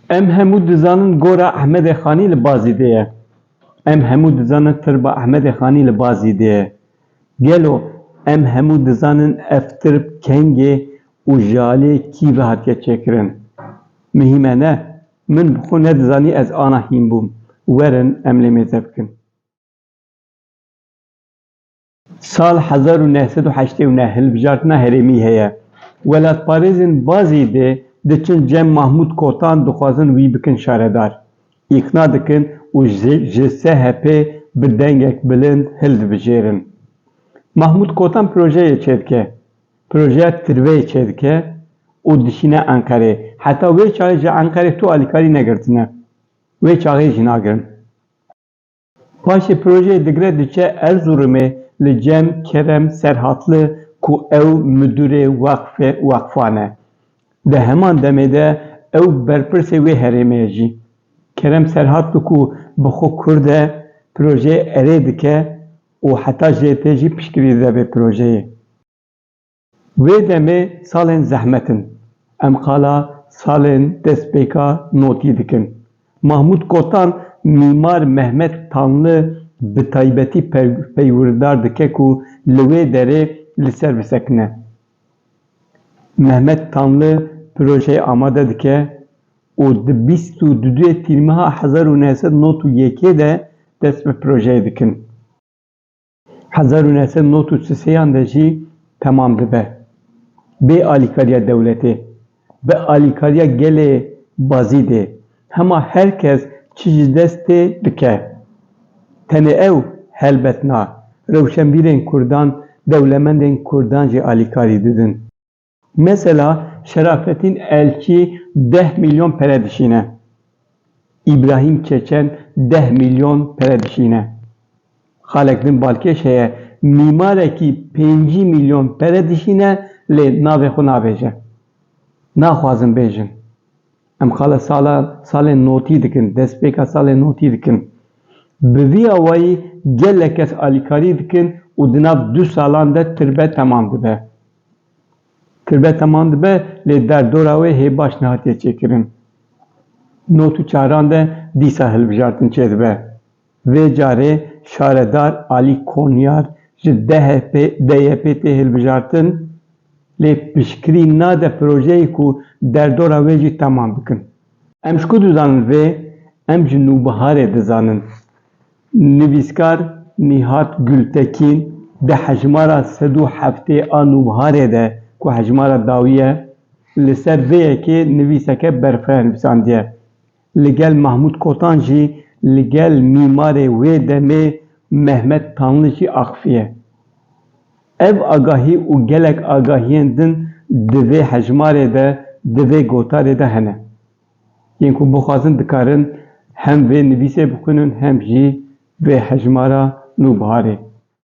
Em hemû dizanin gora Ehmedê Xanî li Bazîdê ye. Em hemû dizanin tirba Ehmedê Xanî li Bazîdê ye. Gelo em hemû dizanin ev tirb kengê û ji aliyê kî ve hatiye çêkirin? Mihîm e ne. Min bi xwe nedizanî ez ana hîn bûm. Werin em lê mêze bikin. Sal hezar û neh sed û heştê û neh hilbijartina herêmî heye. Welatparêzên Bazî dê diçin cem Mahmûd Kotan dixwazin wî bikin şaredar. Îkna dikin û ji SHP'ê bi dengek bilind hildibijêrin. Mahmûd Kotan projeyê çêdike. Projeya tirveyê çêdike û dişîne Enqerê. Heta wê çaxê ji Enqerê tu alîkarî negirtine. Wê çaxê jî nagirin. Paşê projeyê digre diçe Erzurumê li Cem Kerem Serhatli ku ew Midûrê Weqfê Weqfan e. Di heman demê de ew berpirsê wê herêmê ye jî. Kerem Serhatli ku bi xwe Kurd e, projeyê erê dike û heta jê tê jî piştgirî dide vê projeyê. Wê demê salên zehmet in. Em qala salên destpêka notî dikin. Mahmûd Kotan mîmar Mehmet Tanlı bi taybetî peywirdar dike ku li wê derê li ser bisekine. Mehmet Tanlı projeyê amade dike û di bîst û du yê Tîrmeha hezar û neh sed nod û yekê de dest bi projeyê dikin. Hezar û neh sed û nod û si sêyan de jî temam dibe. Bê alîkariya dewletê, bi alîkariya gelê Bazîdê hema her kes çi ji dest tê bike. Tenê ew helbet na, rewşenbîrên kurdan dewlemendên kurdan jî alîkarî didin. Mesela Şerafetîn Elçî deh mîlyon pere dişîne. Îbrahîm Çeçen deh mîlyon pere dişîne. Xalek din balkêş heye mîmarekî pêncî mîlyon pere dişîne lê navê xwe navêje. Naxwazin bêjin. Em xala sala salên notî dikin, destpêka salên notî dikin. Bi vî awayî gelek kes alîkarî dikin û di nav du salan de tirbe temam dibe. Kirve teman dibe lê derdora wê hê baş nehatiye çêkirin. Not û çaran de dîsa hilbijartin çêdibe. Vê carê şaredar Alî Konyar ji DYP'ê tê hilbijartin lê piştgirî nade projeyê ku derdora wê jî teman bikin. Em ji ku dizanin vê, em ji nûbiharê dizanin. Nivîskar Nîhat Gultekîn di hejmara sed û heftê a Nûbharê de ku hejmara dawî ye, li ser vê yekê nivîseke berxwe hilbisandiye. Li gel Mahmûd Kotan jî li gel mîmarê wê demê Mehmet Tanli jî axifiye. Ev agahî û gelek agahiyên din di vê hejmarê de, di vê gotarê de hene. Yên ku bixwazin dikarin hem vê nivîsê bixwînin hem jî vê hejmara Nûbiharê.